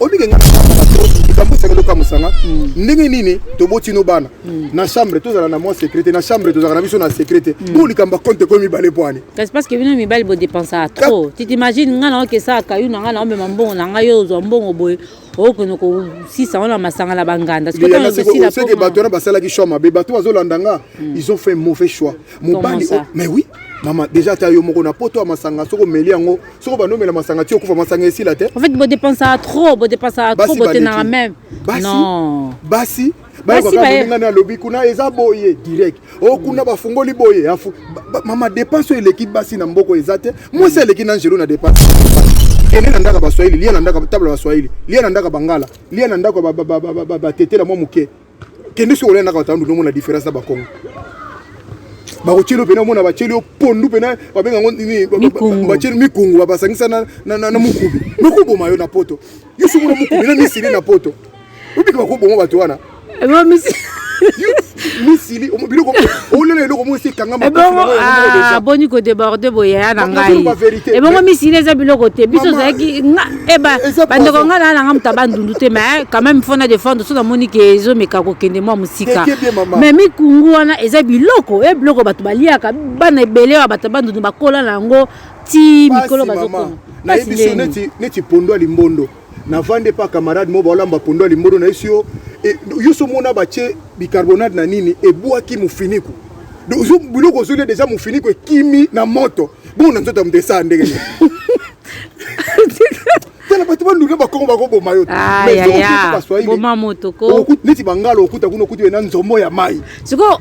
olike nga likambo esengeli okamusa nga hmm. ndenge nini toboti no bana hmm. na chambre tozala na mwa secrete na chambre tozalaka na biso na secrete hmm. bo likambo ya compte ekomi mibale mpo ani kasi parce que bino mibali bodepensaka trop tu t'imagine nga na okesaka kayu na nga na omema mbongo na ngai yo ozwa mbongo boye okokende kosisa wana masanga na banganda seke bato wana basalaki choix mabe bato bazolanda nga ils ont fait mauvais choix mobali oh, mais oui mama déjà ata yo moko na poto ya masanga soki omeli yango soko banomela masanga ti okufa masanga esila te en fait bodepensaka trop bodepensaka trop botenaka meme non basi bayokakamoninga na alobi kuna eza boye direct o oh, kuna bafungoli boye afu mama depense oyo eleki basi na mboko eza te mwasi aleki na angelo na depense kende na ndako ya baswahili lia na ndako tabla baswahili lia na ndako ya bangala lia na ndako ya batetela mwa moke kende soki olendaka batandu nomona différence na bakongo bakotyeli yo mpena omona batyeli yo pondu mpena babenga yango nini batyeli mikungu babasangisa na mokubi mekoboma yo na poto yo soki omona mokubi na misili na poto obiki bakoboma bato wana misili biloko olela eloko moko esi ekangamaaboni kodeborde boyaya na ngai ebongo misili eza biloko te biso ozalaki Eh ba, bandeko nga na nanga mutaba ndundu te mais quand même faut na défendre so na moni ke ezo meka ko kende mwa musika mais mikungu wana eza biloko e biloko bato baliaka bana ebele ya bato bandundu bakola na yango ti mikolo bazokoma nayebi so neti neti pondo ya limbondo navandi epa camarade moko baolamba pondo ya limbondo nayesi yo e, yo so mona batie bicarbonate na nini ebwaki mofiniku biloko ozolia deja mofiniku ekimi na moto bongo na nzoto ya moto esaa ndenge tala bato banduki bakongo bakoboma yo boma moto ko neti bangala okuta kuna okuti ena nzombo ya mai sikoyo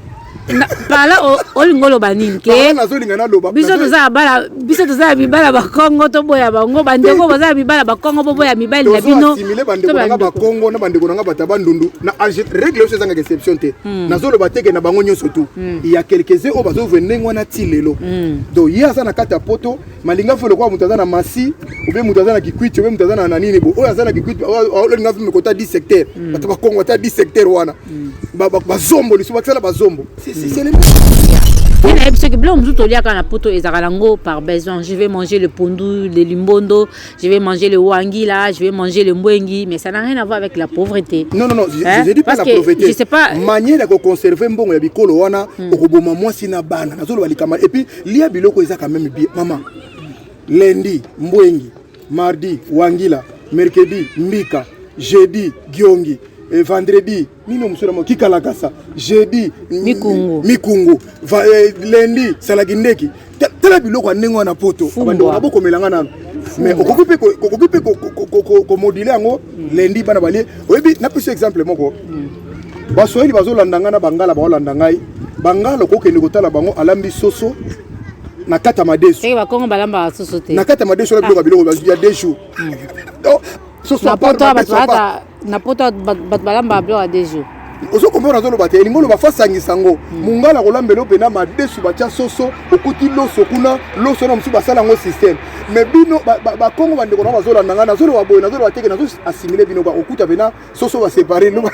pala olingi oloba nini ke nazolinga naloba biso toza ya bala biso toza ya mibala bakongo toboya bango bandeko boza ya mibala bakongo boboya mibali na bino asimile bandeko nanga bakongo na bandeko nanga bato ya bandundu na règle yonso ezangaka exception te hmm. nazoloba teke na bango nyonso tu hmm. ya quelques-uns oyo bazovue ndenge wana ti lelo hmm. donc ye aza na kati ya poto malinga fo lokola moto aza na masi obe moto aza na kikwiti obe moto aza na nanini bo oyo aza na kikwiti olinga fo mekota 10 secteur hmm. bato bakongo ata 10 secteur wana hmm. bazombo lisusu bakisala bazombo nayebi soki biloko mosusu toliaka na poto ezalaka nango par besoin je vais manger le pondu le limbondo je vais manger le wangila je vais manger le mbwengi mais ça n'a rien à voir avec la pauvreté non non non hein? je dis pas Parce la pauvreté je sais pas manière ya koconserve mbongo ya bikolo wana hmm. okoboma mwasi na bana nazoloba likama et puis Lia biloko eza quand même bien maman. Lundi mbwengi, mardi wangila, mercredi mbika, jeudi giongi, et vendredi nino mosolo mo kikalakasa, jeudi mikungu, mikungu. Va, eh, lundi salaki ndeki. Tala biloko ya ndenge wana poto. Abandoko na bokomela nga nanu. mais okoki mpe okoki mpe komodule yango lendi bana balie oyebi napesi exemple moko baswahili bazolanda ngai na bangala baolanda ngai bangala okokende kotala bango alambi soso na kati ya madesu na kati ya madesu na biloko ya biloko ya deux jours hmm. oh, na poto bato balamba biloko ya deux jours ozo comprendre azoloba te elingi oloba fasangisa yango hmm. mongala akolamba elo mpena madesu batya soso okuti loso kuna loso na mosusu basala yango systeme mais bino bakongo bandeko na bazolanda ngai nazoloba boye nazoloba teke nazo asimile bino bakokuta mpena soso ba séparer loba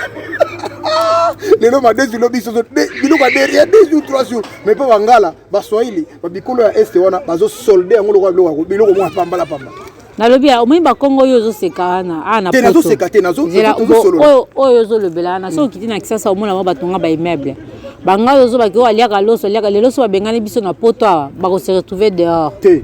lelo madesi lobi soso biloko ya derrière deux jours trois jours mais mpe bangala baswahili babikolo ya este wana bazosolde yango lokola biloko biloko mwa pambala pamba nalobi ya omoni bakongo oyo ozoseka wana awa ah, nazoseka te oyo ozolobela wana soki okiti na kisasa omona bango batonga baimmeuble bangai ozo bake oyo aliaka loso aliaka lelo so babengani biso na poto awa bakose retrouve dehors te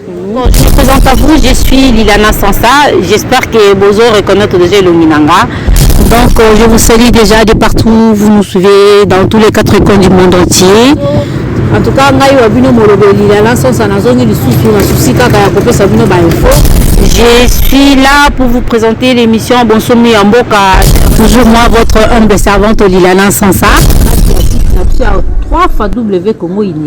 Bon, je me présente à vous, je suis Lilana Sansa. J'espère que Bozo reconnaît déjà Luminanga. Donc, euh, je vous salue déjà de partout. Vous nous suivez dans tous les quatre coins du monde entier. En tout cas, ngai wa bino molobo Lilana Sansa nazongi lisusu na souci kaka ya kopesa bino ba info. Je suis là pour vous présenter l'émission Bonsomi en Boka. Toujours moi, votre humble servante Lilana Sansa. Na biso ya 3 fois W Congo Uni.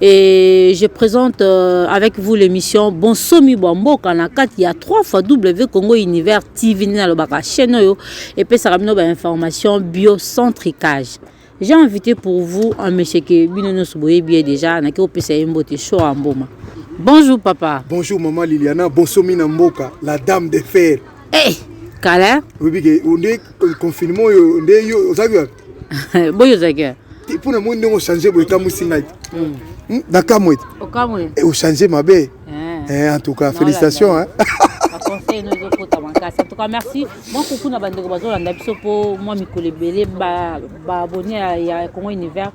et je présente euh, avec vous l'émission bonsomi bwa mboka na kati ya 3 fois w congo univers tv nde nalobaka chaîne oyo epesaka bino bainformation biocentricage j'ai invité pour vous un monsieur ke bino nyonso boyebi ye déjà nake kopesa ye mbote show ya mboma bonjour papa bonjour maman liliana bonsomi na mboka la dame de fer hey, kala oyebi ke Confinement oyo nde yo ozaki wapi? Boyo ozaki wapi? Mpo na moi ndenge ochange boye ekamwisi ngai te. Hmm. Nakamwe te. Okamwe. Eh, ochange mabe. Eh. eh, en tout cas, félicitations. Hein. conseil no ezokota makasi en tout cas merci mwa kuku na bandeko bazolanda biso mpo mwa mikolo ebele baabonne ya congo univers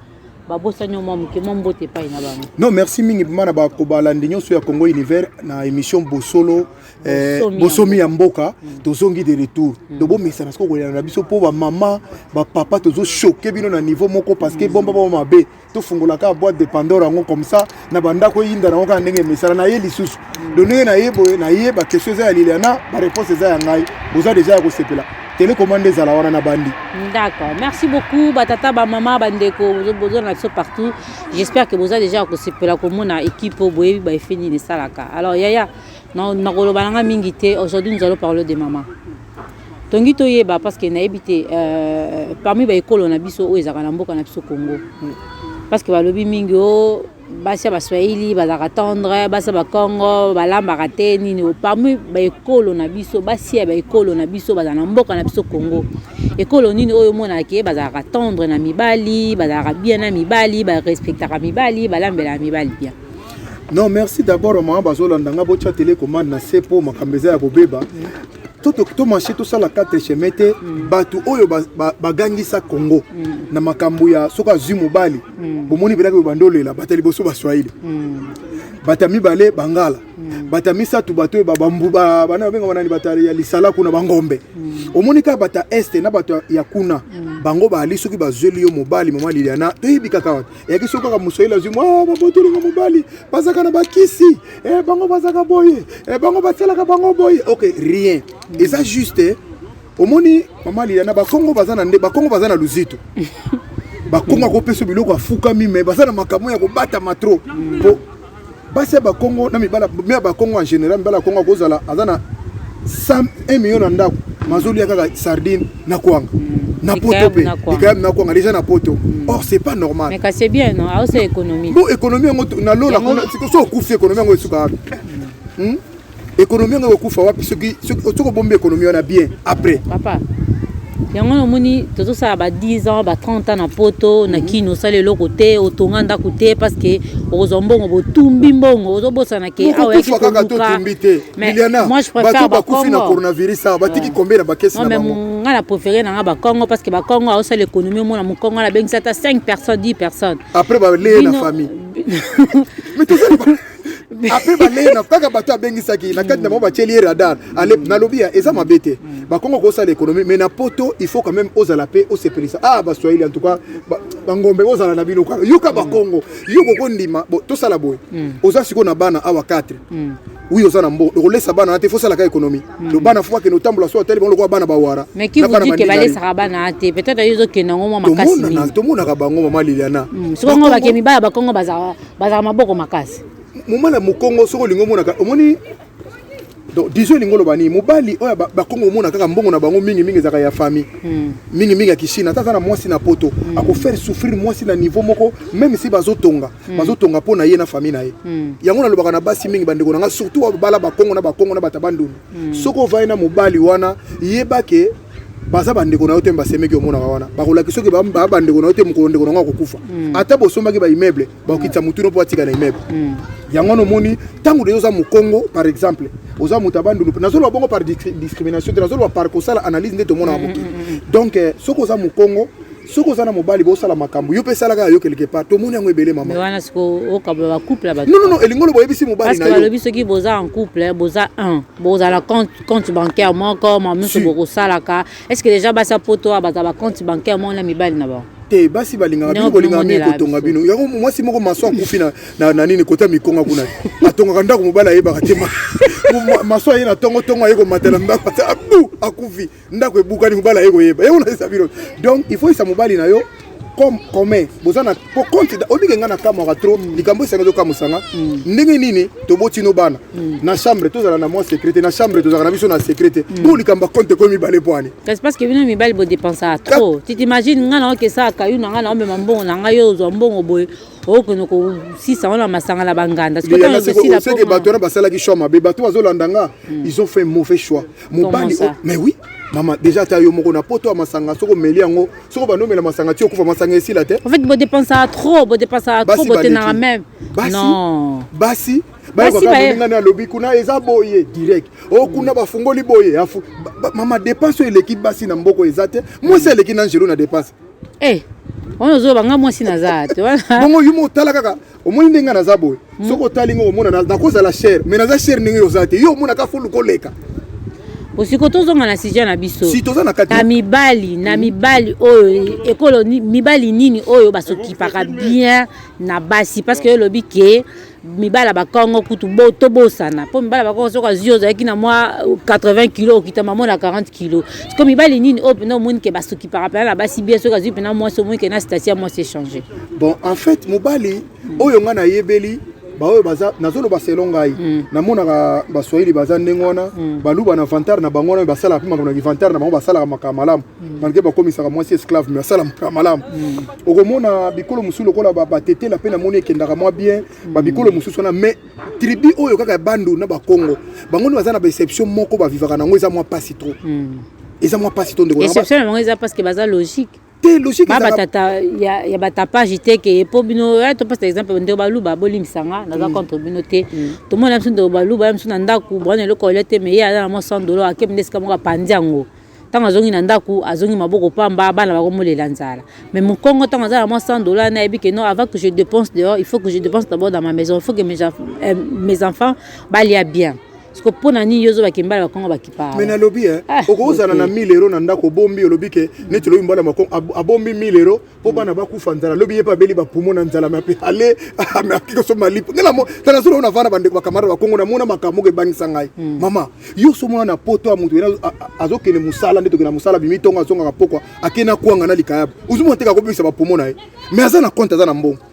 babosani mwa moke mwa mbote epai na bango non merci mingi mpema na bakobalandi nyonso ya congo univers na émission bosolo Eh, bosomi ya mboka mm. tozongi de retour mm. donc bomesana soko kolela na biso mpo bamama bapapa tozochoke bino na niveau moko parce que mm. bomba bao mabe tofungolaka boîte de pandore yango comme ça na bandako eyinda nango kaka ndenge emesana na ye lisusu do ndenge na ye boye na ye baquestion eza ya liliana bareponse eza ya ngai boza deja ya kosepela telekomande ezala wana na bandi d'accord merci beaucoup batata bamama bandeko boza na biso partout j'espère que boza deja ya kosepela komona équipe oyo boyebi baefe nini esalaka alors yaya Non, nakoloba nanga mingi te. Aujourd'hui nous allons parler de maman. Tongi toyeba parce que nayebi te euh, parmi ba ekolo na biso oyo ezalaka na mboka na biso Congo. Parce que balobi mingi o oh, basi ya baswahili bazalaka tendre basi ya bakongo balambaka te nini oh, parmi baekolo na biso basi ya baekolo na biso bazala na mboka na biso congo ekolo nini oyo omonaka ke bazalaka tendre na mibali bazalaka bien na mibali barespectaka mibali balambelaka mibali bien Non merci d'abord maman bazolanda nga botya tele commande na se mpo makambo eza ya kobeba tomashe tosala quatre chemin te mm. bato oyo bagangisa congo mm. na makambo ya soki azwi mobali mm. bomoni mpenaki oyo bandolela bato ya liboso baswahili bato ya mibale bangala bato ya misato bato oyo bana babengama nani bato ya lisala kuna bangombe omoni kaka bato ya este na bato ya kuna bango baali soki bazweli yo mobali mama liliana toyebi kaka wapi eyaki soki kaka mosoyeli azwi mwa ah, babotolinga mobali bazaka na bakisi eh, bango bazaka boye eh, bango basalaka bango boye ok rien eza juste eh. omoni mama liliana bakongo baza na nde bakongo baza na luzito bakongo akopesa biloko afukami me baza na makambo ya kobatama trop po basi ya bakongo na mibala me ya bakongo en général mibala ya kongo akozala aza na 1 million na ndako mazolia kaka sardine na kwanga na poto mpe likayami na kwanga deja na poto hmm. or c'est pas normal mais kasi bien non aosa économie bo économie yango na lola kuna so okufi économie yango esuka wapi hmm? ekonomi yango ekokufa wapi soki soki obombi ekonomi wana bien après papa yango wana omoni tozosala ba 10 ans ba 30 ans na poto na mhm. kini osala eloko te otonga ndako te parce que okozwa mbongo botumbi mbongo ozobosana ke awa yaki koluka mais moi je préfère bakufi na coronavirus awa batiki combien na bakesi na bango nga na préféré na nga bakongo parce que bakongo aosala économie omona mokongo na bengisa ata 5 personnes 10 personnes après baleye na famille apres balei na kaka bato abengisaki na kati na bango batieli ye radar ale nalobi ya eza mabe te bakongo kosala économie mais na poto il faut quand même ozala mpe osepelisa ah baswahili en tout cas bangombe ozala na bino kaka yoka bakongo yo kokondima tosala boye hmm. oza sikoyo na bana awa 4 oui oza na mbo okolesa bana na te fo osalaka économie hmm. lo bana fo akende otambola so atali bango lokola bana bawara mais qui vous dit que balesaka bana te peut-être yo ozokende yango mwa makasi mingi tomonaka bango mama liliana hmm, soki yango bakemi baya bakongo bazala bazalaka maboko makasi moma na mokongo soki olingi omonaka omoni donc disons elingi oloba nini mobali oyo bakongo omona kaka mbongo na bango mingi mingi ezalaka ya famille hmm. mingi mingi ya kishina ata aza na mwasi na poto hmm. akofaire souffrir mwasi na niveau moko meme si bazotonga hmm. bazotonga mpo na ye na famille na ye yango nalobaka na basi mingi bandeko na ngai surtout babala bakongo na bakongo na bato ya bandundu soki ovai na mobali wana yebake baza bandeko na yo te basemeki omonaka wana bakolakisa soki baa bandeko na yo te mokolo ndeko na yango akokufa hmm. ata bosombaki baimmeuble bakokitisa hmm. motu no mpo atika na immeuble hmm. yango wana omoni ntango deja oza mokongo par exemple oza moto ya bandundu mpe nazoloba bongo par discrimination te nazoloba par kosala analyse nde tomonaka mokili donc eh, soki oza mokongo soki oza na mobali bosala makambo yo mpe esalaka ya yo quelque part tomoni yango ebele mama wana siko okabola ba couple ya bato non non elingo lobo oyebisi mobali na yo balobi soki boza en couple boza un bozala compte compte bancaire moko ma mosu bokosalaka est ce que déjà basa poto oyo baza ba compte bancaire moko na mibali na bango te basi balingaka bino kolingaka mingi kotonga bino yango mwasi moko maso akufi na nini kota mikonga kuna atongaka ndako mobali ayebaka te maso aye na tongotongo aye komatela ndako ata abu akufi ndako ebukani mobali aye koyeba ye onaisa bino donc il faut isa mobali na yo comme commun boza na po compte obike nga na kamwaka trop mm. likambo esanga ezokamusa nga mm. ndenge nini toboti no bana mm. na chambre tozala na mwa secrete na chambre tozalaka na biso na secrete bo likambo ya compte ekomi mibale po ani kasi parce que bino mibali bodepensaka trop tu t'imagine nga na okesaka yo na nga na omema mbongo na ngai yo ozwa mbongo boye okende kosisa wana masanga na banganda seke bato wana basalaki choix mabe bato bazolanda nga ils ont fait mauvais choix mobali oh, mais oui mama déjà ta yo moko na poto ya masanga soko omeli yango soko banomela masanga ti okufa masanga esila te en fait bodepensaka trop bodepensaka trop botenaka meme non basi bayokakamoningani alobi kuna eza boye direct o oh, kuna bafungoli boye afu mama depense oyo eleki basi na mboko eza te mwasi aleki na angelo na depense eh, wana ozoba nga mwasi naza te bongo yumo otala kaka omoni ndenge naza boye hmm. soki otali ngo omona nakozala chere mais naza chere ndenge oza te yo omonaka fulu koleka osiko tozonga na sujet na biso si toza na kati na mibali na mibali oyo ekolo mibali nini oyo basokipaka bien na basi parce que olobi ke mibala bakongo kutu bo tobosana mpo mibala bakongo soki azwi ozalaki na mwa 80 kilo okita mamo na 40 kilo siko mibali nini oyo mpena omoni ke basokipaka mpena na basi bien soki azwi mpena mwasi omoni ke na station ya mwasi echange bon en fait mobali mm. oyo nga nayebeli baoyo baza nazoloba selon ngai mm. namonaka baswahili baza ndenge wana mm. baluba na vantare na bango wana basalaka mpe makambo na kivantare na bango basalaka makambo malamu mm. malgre bakomisaka mwasi esclave me asala makambo malamu mm. okomona bikolo mosusu lokola batetela mpe namoni ekendaka mwa bien mm. babikolo mosusu wana mais tribu oyo kaka ya bandu na bakongo bango nde baza na baexception moko bavivaka na yango eza mwa mpasi trop mm. eza mwa mpasi to ndeko exception na bango eza parce que baza logique te logique ba batata ya ya batapage te ke po bino ya to pesa exemple ndo baluba bolimbisa nga naza mm. contre bino te mm. to mona biso ndo baluba ya biso na ndaku bwana eloko olia te mais ye aza na mwa 100 dollars akemi nde esika moko apanzi yango ntango azongi na ndako azongi maboko pamba bana bakomolela nzala mais mokongo ntango aza na mwa 100 dollar nayebi ke non avant que je dépense dehors il faut que je dépense d'abord dans ma maison il faut que mes, euh, mes enfants balia bien siko mpo na nini yo ozo bakembala bakongo bakipa me nalobi eh, ah, okozala na 1000 euro na ndako obombi olobi ke neti lobi mbala makongo abombi 1000 euro mpo bana bakufa nzala lobi ye mpe abeli bapumo na nzala me ape ale akikosomba lipo nde tala solo na vana bandeko bakamara bakongo namona makambo moko ebangisa ngai hmm. mama yo somona na poto ya moto azokende mosala nde tokenda mosala bimi ntongo azongaka pokwa akei na kwanga na likayabo ozomona teka akobebisa bapumo na ye me aza na konte aza na mbongo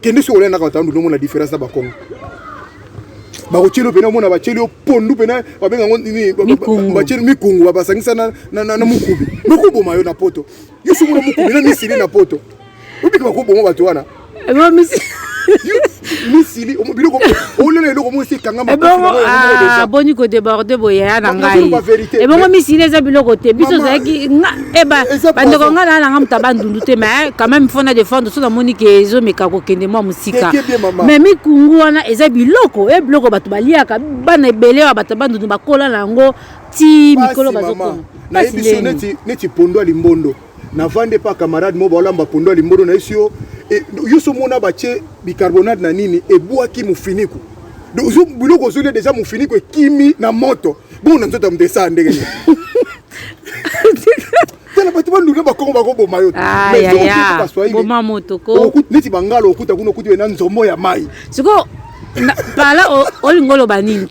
kende soki olia na katandu ndomo na difference na bakongo bakotyeli mpena omona batyeli yo pondu mpena babenga yango nini batyeli mikungu babasangisa na mokubi nokoboma yo na poto yo soki na mokubi na misili na poto obiki bakoboma bato wana misili biloko olela eloko moko esi ekangamaboni kodeborde boyaya na ngai ebongo misili eza biloko te biso ozalaki eba eh bandeko ngai naa nanga moto ya bandundu te mais quand même fo na defendre so namoni ke ezomeka kokende mwa mosika mais mikungu wana eza biloko e biloko bato baliaka bana ebele ya bato ya bandundu bakola na yango ti mikolo bazokoma nayebi so neti pondo ya limbondo navandi epa camarade moko baolamba pondo ya limbondo nayesi yo eh, yo so mona batie bicarbonate na nini ebwaki mofiniku biloko ozolia deja mofiniku ekimi na moto bongo na nzoto ya moto esaa ndenge tala bato banduka bakongo bakoboma yo boma moto ko neti bangala okuta kuna okuti ena nzombo ya mai sikoyo pala olingi oloba nini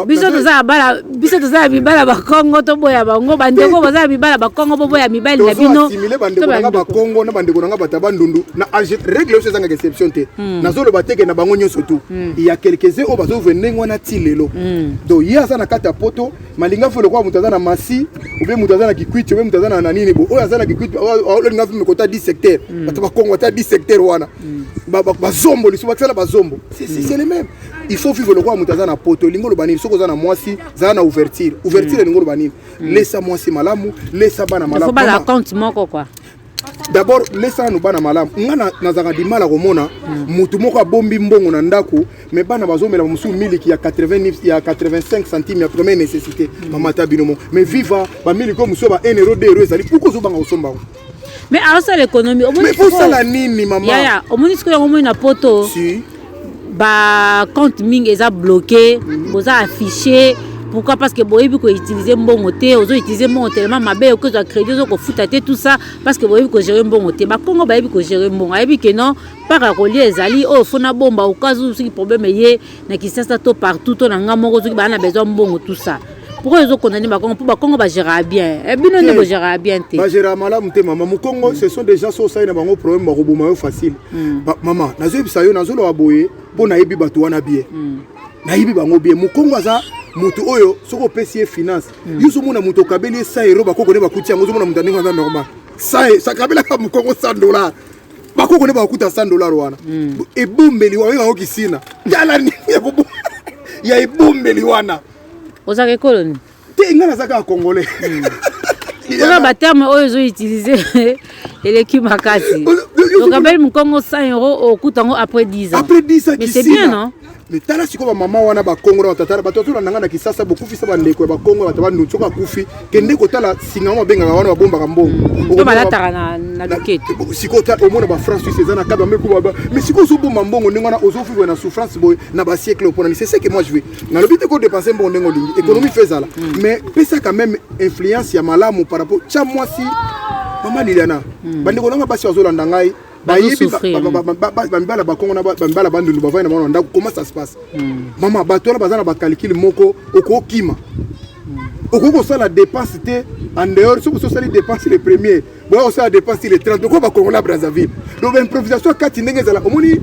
biso toza bala biso toza ya bibala bakongo toboya bango bandeko boza ya bibala bakongo boboya mibali na bino bakongo na bandeko na nga bato ya bandundu na regle oso ezangaka exception te hmm. nazoloba teke na bango nyonso tu hmm. ya quelques-uns oyo bazovue ndenge wana ti lelo hmm. donc ye aza na kati ya poto malinga fo lokola moto aza na masi obe moto aza na kikwiti obe moto aza na nini bo oyo aza na kikwiti olinga fo mekota 10 secteur hmm. bato bakongo ata 10 secteur wana hmm. bazombo lisusu bakisala bazombo c'est hmm. le même il faut vivre lokola moto aza na poto elingi oloba nini soki oza na mwasi zala na ouverture ouverture elingi oloba nini lesa mwasi malamu lesa bana malamu d'abord mesana no bana malamu nga nazalaka dimala komona motu moko abombi mbongo na ndako me bana bazomela mosusu miliki ya 80 ya 85 centime ya première nécessité mama ta bino moko mais viva bamiliki oyo mosusu ya ba 1 euro 2 euro ezali pourkoi ozobanga kosomba yango mais aosala ekonomi osala nini mama omoni sikoyo yango omoni na poto ba compte mingi eza bloqué boza affiché pourquoi parce que boyebi ko utiliser mbongo te ozo utiliser mbongo tellement mabe okoki kozwa crédit ozo kofuta te tout ça parce que boyebi ko gérer mbongo te bakongo bayebi ko gérer mbongo ayebi ke non mpaka kolia ezali oyo oh, fona bomba okazu soki problème eye na kisasa to partout to na ngai moko soki baa na besoin mbongo tout ça pourquoi ezo condamne bakongo mpo bakongo bagéraka bien eh, bino nde bogéraka bien te bagéraka malamu te mama mokongo ce sont des gens so osali na bango problème bakoboma yo facile hmm. mama nazoyebisa yo nazoloba boye mpo nayebi bato wana bien hmm. nayebi bango bien mokongo aza moto oyo soki opesi ye finance hmm. yo ozomona moto okabeli ye sa ero bakoko nde bakuti yango ozomona moto andenge aza normal sakabelaka mokongo 100 dollar bakoko nde bakuta 100 dollar wana ebombeli wayo yango kisina tala nini ya ebombeli wana ozaka ekolo nini te ngai naza kaka congolais hmm. oza baterme oyo ezo utilise eleki makasi okabeli mokongo 100 euro okuta yango après 10 ans mais c'est bien non mais tala sikoyo bamama wana bakongo na batata bato bazola nanga na kisasa bokufisa bandeko ya bakongo bato bandu soki akufi kende kotala singa yango babengaka wana babombaka mbongo sikoyo omona bafrance suisse eza na kaba mekuba mais sikoyo ozobomba mbongo ndenge wana ozofivre na souffrance boye na basiekle opona ni c'est ce que moi je veux nalobi te kodepense mbongo ndenge olingi ekonomi mpe ezala mais pesa quand même influence ya malamu par rapport tya mwasi mama liliana bandeko nanga basi bazolanda ngai bayebi bamibala bakongo na bamibala bandundu bavandi na bango na ndako comment ça se passe mama bato wana baza na bacalcule moko okokima okoki kosala dépense te en dehors soki osi osali dépense le premier boya kosala dépense le 30 okoba kongola brazzaville donc baimprovisation kati ndenge ezala omoni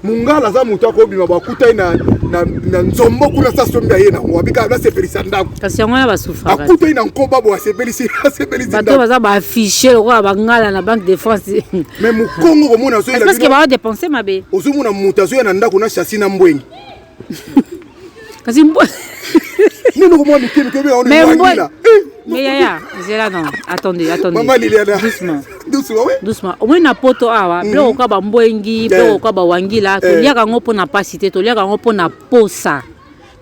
mungala aza moto akobima bakutani na, na, na nzombo kuna sa sombi aye nango abika nasepelisa ndako kasi yango wana basufaka akutani na nkoba bo asepelisi asepelisi bato baza baaffiche lokola bangala na banque de france mais mokongo komona azoyela parce que bawa dépense mabe ozomona moto azoya na ndako na chassi na mbwengi kasi mbwa nini okomwa mike mike oyo oneangila mais yaya zela non attendez attendez maman liliana doucement doucement oui doucement omoi na poto awa biloko mhm. kaka bambwengi biloko kaka bawangila eh. toliaka yango mpo na mpasi te toliaka yango mpo na posa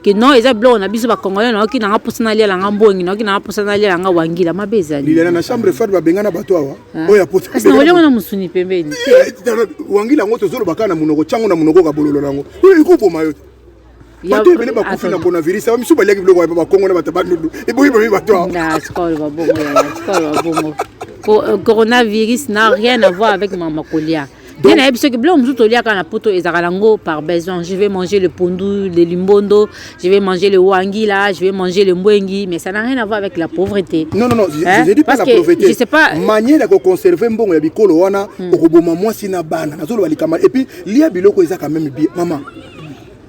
ke non eza biloko na biso bacongolais nayoki nanga mposa naliala nga mbongi nayoki nanga mposa naliala nga wangila mabe ezali lilela na chambre fat babengana bato awa Ah. oyo apoti kasi na olyango na mosuni pembeni eh, eh, wangila yango tozoloba kaka na monoko tyango na monoko kabololo na yango oyo ekoboma yo bato ebele bakufi na coronavirus aba misusu baliaki biloko ya bakongo na bato bandundu eboyi bomi bato coronavirus n'a rien à voir avec mama kolia nde nayebi soki biloko mosusu toliaka na poto ezalaka nango par besoin je vais manger le pondu le limbondo je vais manger le wangila je vais manger le mbwengi mais ça n'a rien à voir avec la pauvreté non non non hein? je dis pas Parce la pauvreté je sais pas manière ya koconserve mbongo ya bikolo wana hmm. okoboma mwasi na bana nazoloba likama et puis lia biloko eza quand même bien mama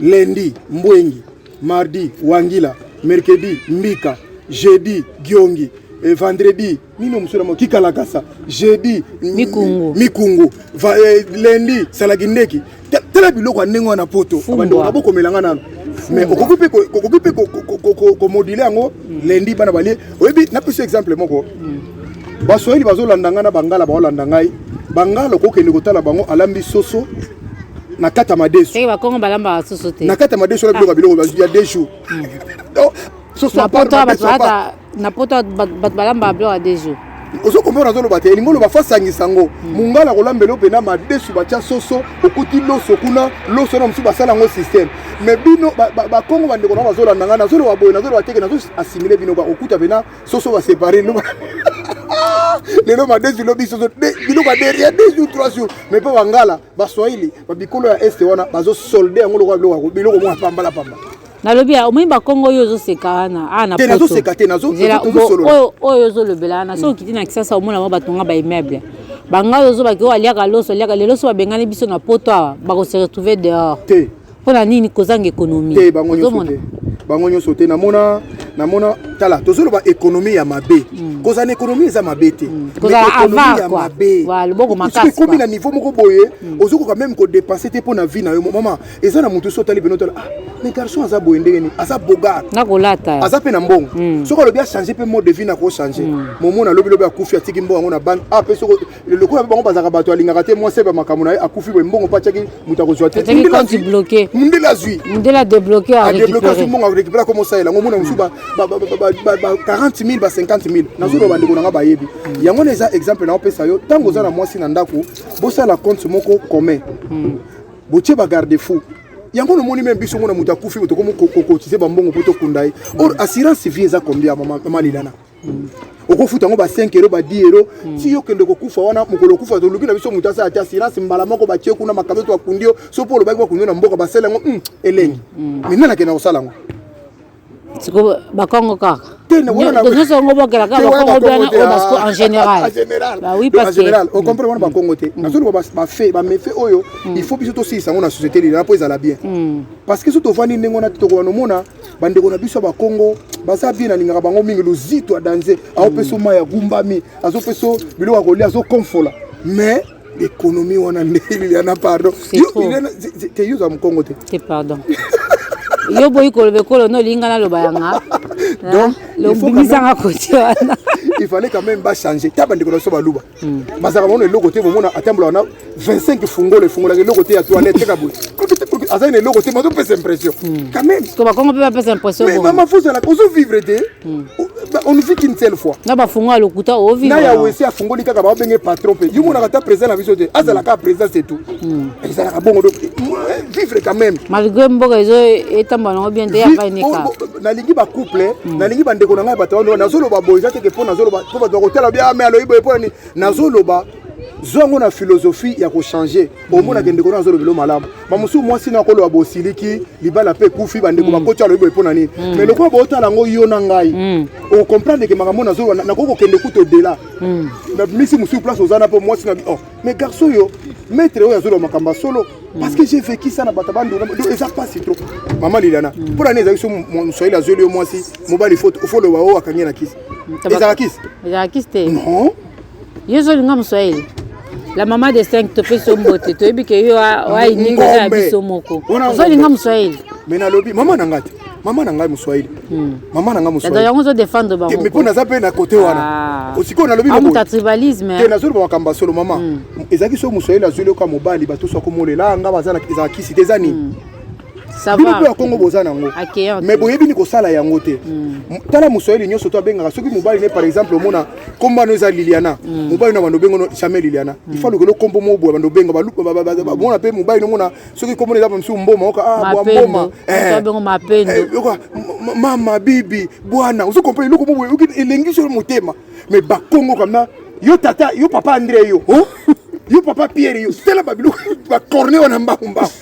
lendi mbwengi Mardi, Wangila. Mercredi, Mbika. Jeudi, Giongi. Et vendredi, nino musura mo kikalakasa. Jeudi, Mikungu. Mikungu. Va, eh, lundi, Salagindeki. Tala biloko ya ndenge wana poto. Abandoko na bokomela nga nano. mais okoki mpe okoki mpe komodule yango lendi bana balie oyebi napesi exemple moko baswahili bazolanda ngai na bangala baolanda ngai bangala okokende kotala bango alambi soso na kati ya madesu eh, bakongo balambaka soso te na kati ya madesu wana biloko ah. biloko ya deux jours na poto bato balambaka biloko ya deux jours ozo comprendre azoloba te elingi oloba fasangisa yango mongala hmm. kolambela yo mpena madesu batya soso okuti loso kuna loso na mosusu basala yango systeme mais bino bakongo bandeko na bazolanda ngai nazoloba boye nazoloba teke nazo assimile bino bakokuta mpena soso ba séparer loba lelo madesi lobi soso biloko ya derrière deux jours trois jours mais mpe bangala baswahili babikolo ya este wana bazosolde yango lokola biloko biloko mwa pambala pamba nalobi ya omoni bakongo oyo ozoseka wana awa te nazoseka te nazosolola oyo ozolobela wana soki okiti na kisasa omona mwa batonga baimmeuble bangala ozobaki oyo aliaka loso aliaka lelo so babengani biso na poto awa bakose retrouve dehors te mpo na nini kozanga ekonomi te bango nyonso te bango nyonso te namona namona tala tozoloba ekonomi ya mabe mm. kozala na ekonomi eza mabe te mm. mabeekomi na niveau moko boye mm. ozokoka meme kodepense te mpo na vie na yo mama eza na motu so otali bino tala ah, mais garçon aza boye ndenge nini aza bogar nakolata aza mpe na mbongo mm. soki alobi achange mpe mode de vie na kochange mm. momona lobilobi akufi atiki mbongo yango na banke ah, mpe soki lokola bango bazalaka bato alingaka te mwasi ayeba makambo na ye akufi boye mbongo mpe atyaki moto akozwa te mundele azwi mundele adebloke adebloke azwi mbongo arekipela koma osalela yango omona mosusu ba 40 000 ba 50 000 nazoloba bandeko na ngai bayebi hmm. yango na eza exemple na opesa yo ntango oza na mwasi na ndako bosala compte moko commun hmm. botie bagarde fou yango nomoni meme biso mona moto akufi tokomi kokotize bambongo mpo tokunda ye or assurance vie eza combien mama lilana okofuta yango ba 5 euro ba 10 euro hmm. ti yo kende kokufa wana mokolo okufa toluki na biso moto asala te assurance mbala moko batie kuna makalo to akundi yo so mpo olobaki bakundi yo na mboka basala yango hmm, elengi hmm. mais nani akenda kosala yango siko bakongo kaka nyonso yango bokela kaka bakongo bana oyo basiko en général oui parce général ocomprendre wana bakongo te nazoloba bafe bamefe oyo il faut biso tosilisa yango na société lilana mpo ezala bien parce que so tovandi ndenge wana te tokoka nomona bandeko na biso ya bakongo baza bien nalingaka bango mingi luzito adanze aopesa mai ya gumbami azopesa biloko ya kolia azokomfola mais ekonomi wana nde liliana pardon te yoza mokongo te pardon yo boyi koloba ekolo no olinga naloba yanga donc lobimisanga koti wana il fallait quand même bachanger ta bandeko na biso baluba hmm. bazalaka bango na eloko te bomona atambolaka na 25 fungola efungolaka eloko te ya toilette te kaboye azali na eloko te bazopesa impression hmm. quand même to bakongo mpe bapesa impression mais mama fozalaka ozovivre te hmm. on vit qu'une seule fois na bafungola lokuta ovivre na ya wese afungoli kaka babenge patron mpe yo monaka ata président na biso te azala kaka président c'est tout ezalaka bongo donc vivre quand même malgré mboka ezo etamba nango bien te ya baineka nalingi ba couple mm. nalingi ba ndeko na ngai bato wana nazoloba boye eza teke mpo nazoloba mpo bato bakotala bia me aloyi boye mpo nani nazoloba zwa yango na philosophie ya kochange omonaka ndeko na azolobelo malamu bamosusu mwasi na akoloba bosiliki libala mpe ekufi bandeko mm. bakoti alobi boye mpo na nini me mm. lokola bootala yango yo na ngai mm. okomprendre ke makambo nazoloba nakoki kokende kutu odela misi mosusu place oza na mpo mwasi na oh, mais garçon oyo maître oyo azoloba makambo ya solo parce que j'ai vécu ça na bato bandona donc eza mpasi trop mama liliana mpo na nini ezalaki so moswahili azweli yo mwasi mobali fo ofoloba oyo akangi na kisi ezalaka kisi ezalaka kisi te non yo ozolinga moswahili la mama de 5 topesi yo mbote toyebi ke yo wainikoza ya biso moko ozolinga moswahili me nalobi mama na ngai te mama na ngai moswahili hmm. mama na ngai moswahiyango ozo defendre bango mpo naza mpe na kote wana ah. sikoyo nalobi ah, tribalisme eh. nazoloba makambo ya solo mama hmm. ezalaki soki moswahili azwi loka mobali bato so akomolela ah, nga baza ezala kisi te eza nini hmm. bino mpe ya kongo boza na yango mais boyebi ni kosala yango te tala moswahili nyonso to abengaka soki mobali ne par exemple omona nkombo ano eza liliana mobali na bando obengo jamais liliana ifalukelo nkombo moboya bando obenga bamona mpe mobali nomona soki kombo na eza mosusu mboma oka ah, bwa mboma eh. mapendo eh, mama bibi bwana ozo comprendre eloko moko oyoki elengi solo motema mais bakongo kamna yo tata yo papa andre yo oh? yo papa pierre yo tala babiloko bacorne wana mbangu mbangu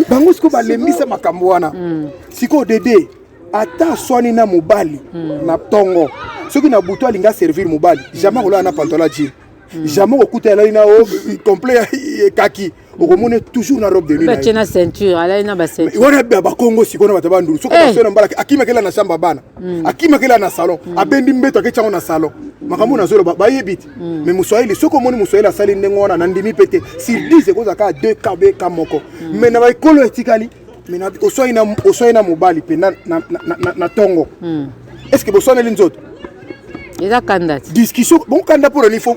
bango sikoyo balembisa makambo wana hmm. sikoyo dede ata aswani na mobali hmm. na tongo soki na butu alingi aservir mobali jamais akolala na pantola jini Hmm. jamais okokuta alali na complet ekaki okomona toujours na robe de nuit na ceinture alali na bacenture wana bakongo sikoyo na bato ya bandulu soki eh. basio na mbala akimakela na chambre ya bana hmm. akimakela na salon hmm. abendi mbeto aketi yango na salon makambo na zolo bayebi te mais moswahili soki omoni moswahili asali ndenge wana na ndimi mpe te sur 10 ekozala kaka 2 ka be ka moko mais na baekolo etikali oswai na mobali mpe na ntongo est ce que boswaneli nzoto eza kanda ti discussion bon kanda mpo na nini fo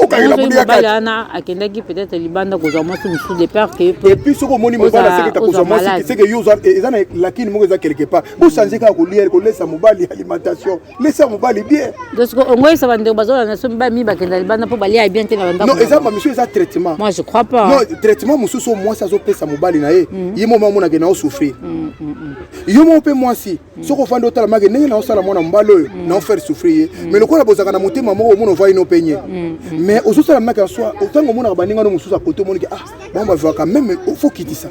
okangela mobali ya kati wana akendaki peut-être libanda kozwa mwasi mosusu de peur que et puis soki omoni mobali aseketa kozwa mwasi seke yo eza na lakini moko eza quelque part bo changer kaka kolia kolesa mobali alimentation lesa mobali bien donc soki ongoyisa bandeko bazolanda so mibali mingi bakenda libanda mpo balia bien te na bandako non eza bamisio eza traitement moi je crois pas non traitement mosusu oyo mwasi azopesa mobali na ye mm. ye moko mamonake na osouffrir mm, mm, yo moko mpe mwasi soki ofandi otalamake ndenge naosala mwana mobali oyo mm. naofaire souffrir ye mm. mais lokola bozalaka na motema moko omona ovai no mpe nye mm, mais ozosala make ya soi ntango omonaka baninga no mosusu akote omoniki ah bango bavivaka meme ofo kitisa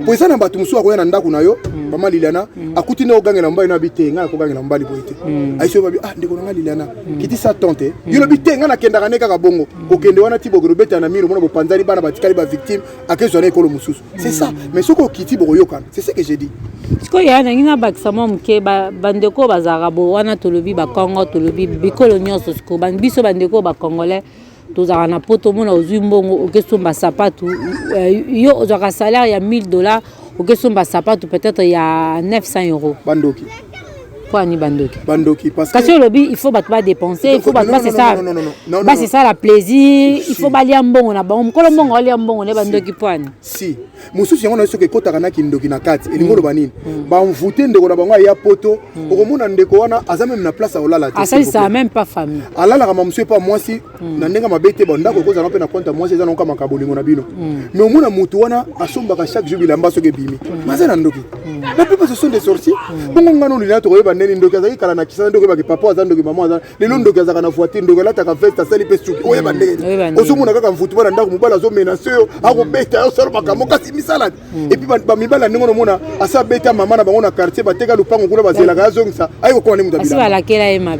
mpo eza na bato mosusu akoya na ndako na yo mama liliana akuti nde okogangela mobali no abi te ngai nakogangela mobali boye te aisi oyo babi ah ndeko na ngai liliana kitisa tante yo lobi te ngai nakendaka nde kaka bongo kokende wana ti bokende obetana miro omona bopanzani bana batikali bavictime akezwa na ekolo mosusu c'est ça mais soki okiti bokoyokana c'est ce que j'ai dit sikoyo yaya nangi nabakisa mwa moke bandeko oyo bazalaka bo wana tolobi bakongo tolobi bikolo nyonso sikoyo biso bandeko oyo bacongolais tozalaka na poto omona ozwi mbongo okesomba sapatu eh, yo ozwaka salaire ya 1000 dollars okesomba sapatu peut-être ya 900 euros bandoki Pourquoi ni bandoki Bandoki parce que Kasi olobi il faut bato ba dépenser, il faut bato ba se ça. Ba se ça la plaisir, il faut balia mbongo na bango. Mukolo mbongo alia mbongo ne bandoki poani. Si. Mususu yango na soki kotaka na kindoki na kati. Elingo mm. loba nini? Mm. Ba envoûter ndeko na bango ya poto, mm. okomona ndeko wana aza même na place à olala. Asali ça même pas famille. Alala kama monsieur pas moi si Mm. na ndenge mabe te bandako ekozala mpe na compte ya mwasi eza na okamaka bolingo na bino mm. mais omona motu wana asombaka chaque jour bilamba soki ebimi mm. maza na ndoki la plupart ce sont des sorties bongo ngana olina tokoyeba ndeni ndoki azalaki kala na kisana ndoki oyebaki papa aza ndoki mama aza lelo ndoki azalaka na voiture ndoki alataka veste asali mpe suki oyeba ndeni ozomona kaka mfutu bana ndako mobali azomenase yo akobeta yo solo makambo kasi misalani epuis bamibali ya ndenge nomona asi abeta mama na bango na quartier bateka lopango kuna bazelaka azongisa ayi kokoma nde moto abilaa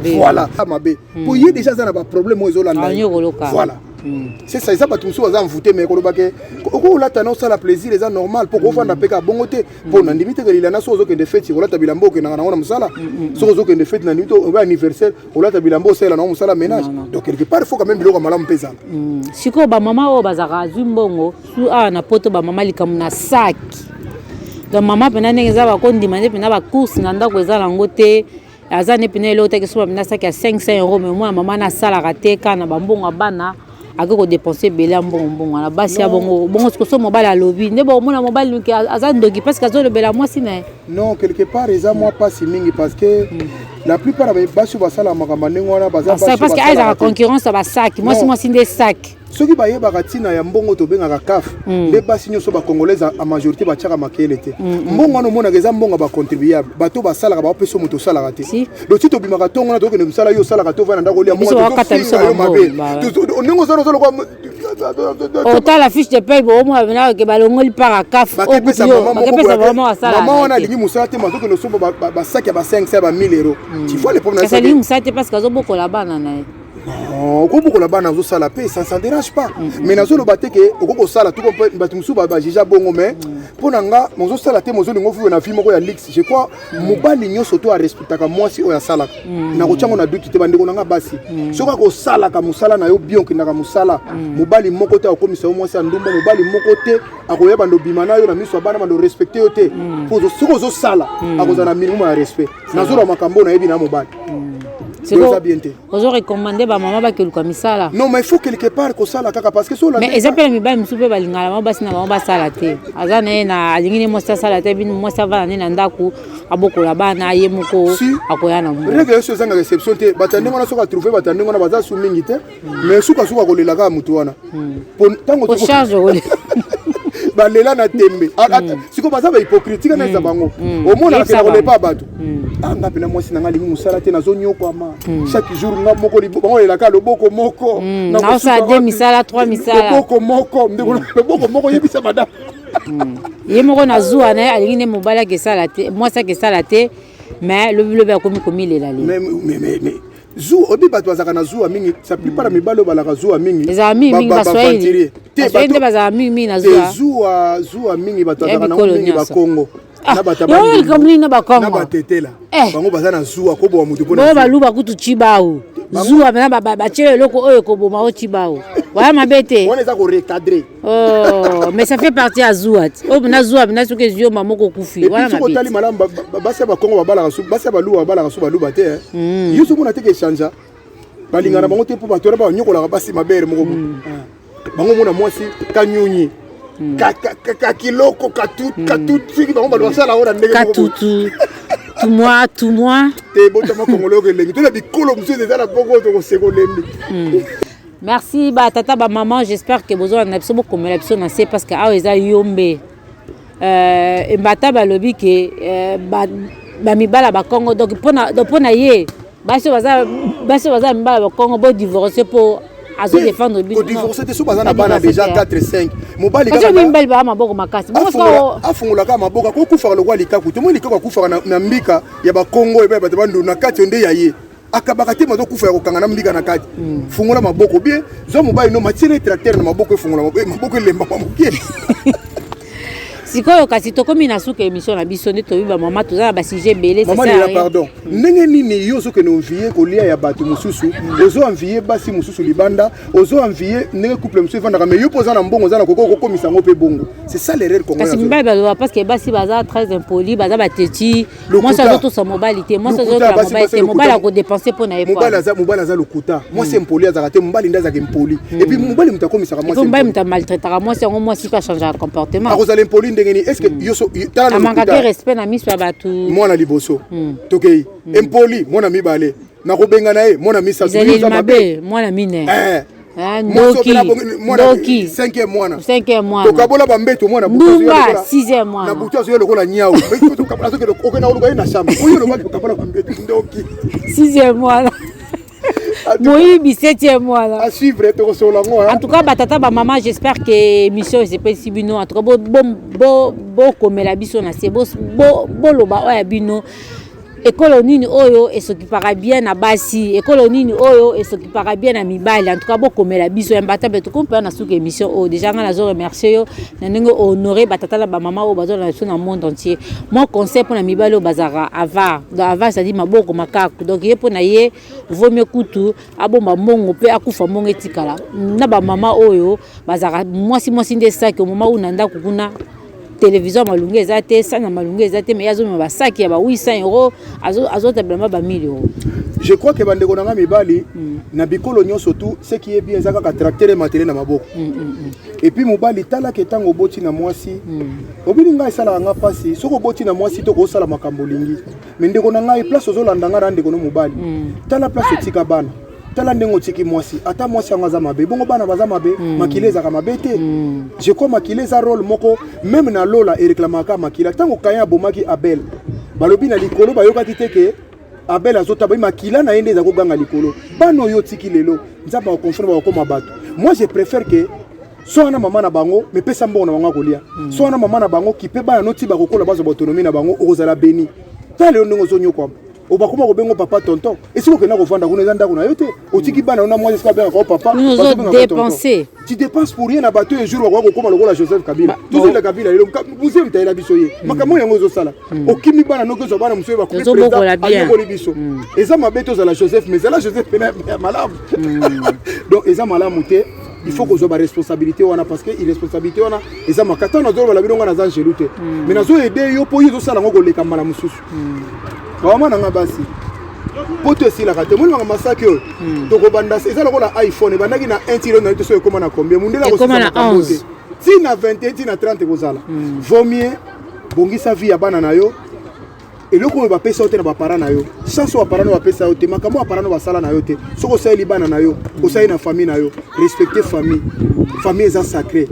voilà mabe mpo hmm. ye deja aza na baproblème oyo ezolanda ah, voilà hmm. c'est ça eza bato mosusu baza envoute mais koloba ke okoki kolata na osala plaisir eza normal mpo kofanda hmm. mpe kaka bongo te mpo na ndimi te kelila na soki ozokende feti kolata bilamba okendaka nango na mosala soki ozokende feti na ndimi te oba anniversaire olata bilamba osalela nango mosala ménage donc quelque part il faut quand même biloko ya malamu mpe ezala sikoyo bamama oyo bazalaka azwi mbongo su awa na poto bamama likambo na saki donc mama mpena ndenge eza bakondima nde mpena bacourse na ndako eza nango te aza ne pene eloko teke soba mina saki ya 500 euro me mwana mama na asalaka te kaka na bambongo ya bana ake kodepense ebele ya mbongo mbongo wana basi ya bongo bongo sikoso mobali alobi nde bokomona mobali noki aza ndoki parce que azolobela mwasi na ye non quelque part eza mwa mpasi mingi parce que mm. la plupart ya basi oyo basala makambo ndenge wana baza parce que ayezaka concurrence ya basaki mwasi mwasi nde saki soki bayebaka ntina ya mbongo tobengaka caf mm. nde basi nyonso bacongolaise a majorité batiaka makele te mm, mm. mbongo wana omonaka eza mbongo ya bacontribuable bato basalaka baopesa moto osalaka te dosi tobimaka ntongo na tokende mosala yo osalaka to vana ndako olia motofinga yo mabe ndenge ozana oza lokola otala fiche de paye boomoabenake balongoli mpaka caf bakepesa mama wana alingi mosala te mazokende osomba basaki ya ba 5 ya ba 1000 euro tifoa le problème alingi mosala te parce que azobokola bana na ye okobokola bana ozosala mpe ça ça dérange pas mais nazoloba te ke okoki kosala tuko mpe bato mosusu bajuge bongo mais mpo na nga mozosala te mozolinga ofuwe na vie moko ya luxe je crois mobali nyonso to arespectaka mwasi oyo asalaka nakotya ngo na duti te bandeko na nga basi soki akosalaka mosala na yo bien okendaka mosala mobali moko te akokomisa yo mwasi ya ndumba mobali moko te akoya bando obima na yo na miso ya bana bando respecte yo te soki ozosala akozala na minimum ya respect nazoloba makambo nayebi na mobali eza bien te ozo recommande bamama bakeluka misala non mais faut quelque part kosala kaka parce que mais eza mpe na mibali mosusu mpe balingaka bango basi na bango basala te aza na ye na alingi ne mwasi asala te bino mwasi avanda nde na ndako abokola bana ye moko akoya na mo règle nyonso ezanga réception te bato ya ndenge wana soki atrouve bato ya ndenge wana baza su mingi te mais suka suka kolela kaka moto wana hmm. po ntango balela na tembe ah, ah, hmm. sikoyo baza bahypocrite tika na eza hmm. bango omonaka pena kolepa ya bato a ah, nga pena mwasi na nga alingi mosala te nazonyokwama chaque jour nga moko bango lelaka loboko moko naosala de misala trois misala loboko moko ndeko loboko moko yebisa madame ye moko na zuwa na ye alingi nde mobali akesala te mwasi akesala te mais lobilobi akomi komilela le zuwa oyebi bato bazalaka na zuwa mingi sa plupart ya mibali oyo balaka zuwa mingi ezala mingi mingi baswahili baswahili nde bazalaka mingi mingi na zuwa zuwa zuwa mingi bato bazalaka na mingi bakongo ah, na bato na bakongo na batetela eh. bango baza na zuwa koboma moto mpo na baluba kutu cibawu zuwa mpena batyela eloko oyo ekoboma o cibawu waya mabe te wana eza korecadre Oh, mais ça fait partie ya zuwa ti oyo na zuwa na soki ezwi yo mama okokufi wana soki otali malamu ba- ba- basi ya bakongo babalaka su basi ya baluba babalaka su baluba te eh. Mm. yo soki mona te ke echangea balingana bango te mpo bato wana banyokolaka basi mabere moko boye. Ah. bango mona mwasi kanyunyi Ka- ka- ka- kakiloko katu- katutu soki bango bato basala yango na ndenge moko boye. katutu tumwa tumwa te botama kongolo yoko elengi to na bikolo mosusu eza na boko tokoseka olembi Merci ba tata ba maman, j'espère que bozo na biso bokomela biso na se parce que awa eza yombe. Euh, embata balobi ke euh, ba, ba mibala ba Congo donc pona donc pona ye basi baza basi baza mibala ba Congo bo divorcer po azo défendre biso. Ko divorcer te so baza na bana déjà 4 5. Mobali kaka. Kasi mibali ba maboko makasi. Bongo so afungola kaka maboko ko kufa lokwa likaku. Tomo likaku akufa na mbika ya ba Congo ebe bato ba ndona kati onde ya ye. akabaka te mazo kufa ya kokanga na mbika na kati mm. fungola maboko bie zwa mobali no matiele tracteur na maboko efungola maboko eh, maboko elembama moke sikoyo kasi tokomi na suka émission na biso nde toyebi bamama toza na basujet ebele mamanela pardon hmm. ndenge nini yo ozokende envie kolia ya bato mosusu hmm. ozo envie basi mosusu libanda ozo envie ndenge couple mosusu efandaka mais yo mpo oza na mbongo oza na koko okokomisa yango mpe bongo c'est ça l'erreur kasi mibali baloba parce que basi baza très impoli baza bateti mwasi azotosa mobali te mwasi azotosa mobali te mobali akodepense mpo na ye mobali aza lokuta mwasi hmm. impoli azalaka te mobali nde azalaka impoli hmm. epuis mobali moto akomisaka mwasi mobali moto amaltraitaka mwasi yango mwasi mpe achangeaka comportement akozala impoli ndenge nini estce hmm. yoso amangaka respect na miso ya bato mwana liboso tokei impoli mwana mibale nakobengana ye mwana misaeleli mabe mwana mine eh. eh, ndoki cinquième mwana cinquième mwana tokabola bambeto mwana ndumba sixième mwana na butu azoya lokola nyau okenda oluka ye na shamba oyo olobaki tokabola bambeto ndoki sixième mwana moyibi septième mwana à suivre tokosolola ngo en tout cas batata bamama j'espère que émission esepelisi bino en tout cas bokomela biso na se boloba oyo ya bino Ekolo nini oyo esokipaka bien na basi? Ekolo nini oyo esokipaka bien na mibali? En tout cas, bokomela biso imbattable tokompa na suka émission oyo. Déjà nga nazo remercier yo na ndenge o honorer ba tata na ba mama oyo bazolanda biso na monde entier. Mon conseil mpo na mibali oyo bazalaka avare. Donc avare c'est-à-dire maboko makaku. Donc ye mpo na ye vaut mieux kutu abomba mbongo mpe akufa mbongo etikala. Na ba mama oyo bazalaka mwasi mwasi nde saki omoma oyo na ndako kuna televizio ya malunga eza te sani ya malunga eza te mai azomema basaki ya ba 800 euro azotabilama ba 1000 euro je crois ke bandeko na ngai mibali mm. na bikolo nyonso tu ce qui est bien eza kaka tracteur ematele na maboko mm, mm, epuis mobali talaka ntango oboti na mwasi obili ngai esalaka ngai mpasi soki oboti na mwasi to kosala makambo olingi me ndeko na ngai place ozolanda ngai na ndeko no mobali tala place otika bana tala ndenge otiki mwasi ata mwasi yango aza mabe bongo bana baza mabe mm. makila ezaka mabe te mm. je crois makila eza role moko meme na lola ereklamaka makila ntango kayan abomaki abel balobi na likolo bayokaki te ke abel azotaba makila na ye nde eza koganga likolo bana oyo otiki lelo nzambe akoconfirme bakokoma bato moi je préfère ke so wana mama na bango mepesa mbongo na bango ya kolia mm. so wana mama na bango kipe bana noti bakokola bazwa baautonomie na bango okozala beni tala lelo ndenge ozonyokwama obakoma kobenga papa tonton esiko okenda kovanda kuna eza ndako na yo te otiki bana ona mwasi esika abengaka o papa dépenser tu dépenses pour rien na bato oyo jour bakoya kokoma lokola joseph kabila tozonda kabila lelo muse mitalela biso ye hmm. makambo yango ezosala hmm. okimi bana noki ozwa bana mosusu bakoayokoli biso hmm. eza mabe tozala joseph mais ezala joseph pena ya malamu donc eza malamu te il faut kozwa baresponsabilité wana parce que irresponsabilité wana eza makata nazoloba na bino ngai naza angelu te mais nazoyede yo mpo yo ezosala yango koleka mbala mosusu bawama na nga basi poto esilaka te omonimaka masaki oyo hmm. tokobanda eza lokola iphone ebandaki na 1 tilo nayebi te soki ekóma na combien mundele akosisa makambo te ti na 21 ti na 30 ekozala hmm. vaut mieux bongisa vie ya bana na yo eloko oyo bapesa yo te na bapara na yo chance oyo bapara na yo bapesa yo te makambo bapara na yo basala na yo te soki osaleli bana na yo osali na famille na yo respecter famille famille eza sacré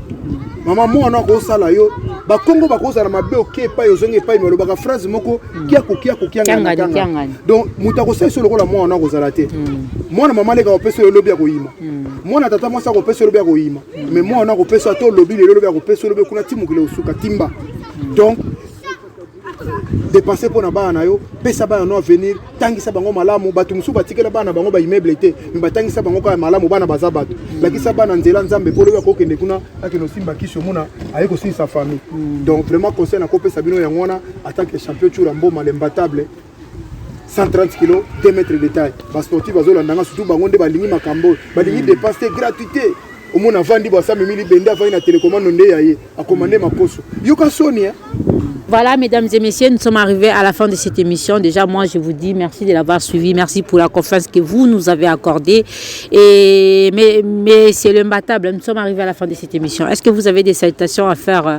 mama mwana akosala yo bakongo bakozala mabe oke epai ozongi epai me olobaka phrase moko kiako kiako kiangaakanga donc moto akosala so lokola mwana wana akozala te hmm. mwana mama leka akopesa yo lobi akoyima hmm. mwana tata mwasi akopesa yo lobi akoyima me hmm. mwana wana akopesa ata olobi lelo lobi akopesa yo lobi kuna ti mokili osuka timba donc depense mpo na bana na yo pesa bana no avenir tangisa bango malamu bato mosusu batikela bana bango baimmeuble te me batangisa bango kaka malamu bana baza bato lakisa bana nzela nzambe mpo lobi akokende kuna akende osimba kisi omona aye kosilisa famille donc vraiment conseil nakopesa bino yango wana atanke champion cura mboma lembatable 130 kilo 2 mètres de taille basportif bazolanda nga surtout bango nde balingi makambo oyo balingi hmm. dépense te gratuité omona avandi bo asamemi libende avandi na telekomando nde ya ye akoma nde makoso yoka soni eh? Voilà, mesdames et messieurs, nous sommes arrivés à la fin de cette émission. Déjà, moi, je vous dis merci de l'avoir suivi. Merci pour la confiance que vous nous avez accordée. Et, mais, mais c'est le matable. Nous sommes arrivés à la fin de cette émission. Est-ce que vous avez des salutations à faire euh,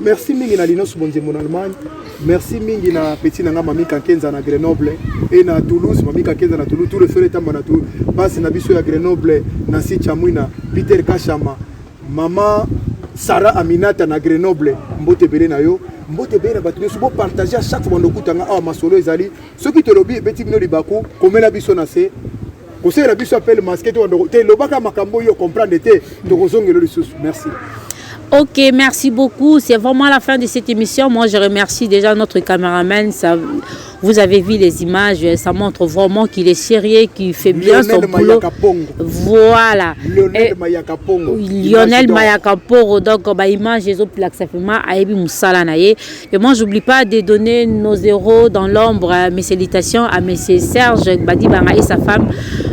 Merci mingi na Linos Bonzembo na Allemagne. Merci mingi na petit na nga Mami Kakenza na Grenoble et na Toulouse, Mami Kakenza na Toulouse, tout le frère tamba na Toulouse. Basi na biso ya Grenoble, na si Chamwina, Peter Kashama, Mama Sarah Aminata na Grenoble, mbote bele na yo. Mbote bele na bato nyonso bo partager à chaque fois bando kutanga awa masolo ezali soki tolobi ebeti bino libaku komela biso na se kosalela biso apele maske te lobaka makambo oyo comprendre te tokozongela lisusu merci Ok, merci beaucoup. C'est vraiment la fin de cette émission. Moi, je remercie déjà notre caméraman. Ça, vous avez vu les images. Ça montre vraiment qu'il est sérieux, qu'il fait bien Lionel son boulot. Voilà. Lionel Mayakaporo. Lionel Mayakaporo. Donc, bah, image, ils ont plaqué ça fait mal. Aïbi Moussala Naye. Et moi, j'oublie pas de donner nos héros dans l'ombre. Mes salutations à M. Serge Badibanga et sa femme,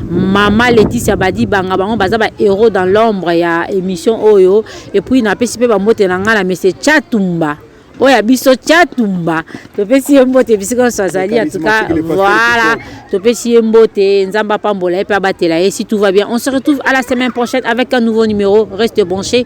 Maman Laetitia Badibanga. Bango baza ba héros dans l'ombre ya émission Oyo. Et puis, na pesi pe ba mbote na ngala M. Chatumba. oyo ya biso chatumba topesi ye mbote bisika nyonso azali en tout cas voilà topesi ye mbote nzambe apambola ye mpe abatela ye si tout va bien on se retrouve à la semaine prochaine avec un nouveau numéro reste branché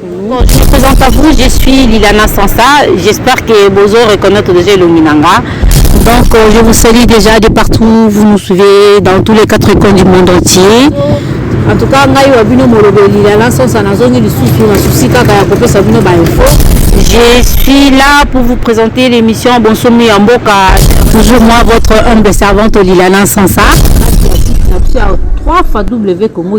Bon, je me présente à vous, je suis Lilana Sansa. J'espère que Bozo reconnaît déjà Luminanga. Donc, euh, je vous salue déjà de partout. Vous nous suivez dans tous les quatre coins du monde entier. En tout cas, ngai wa bino molobo Lilana Sansa nazongi lisusu na souci kaka ya kopesa bino ba info. Je suis là pour vous présenter l'émission Bonsomi en Boka. Toujours moi, votre humble servante Lilana Sansa. Trois fois W Congo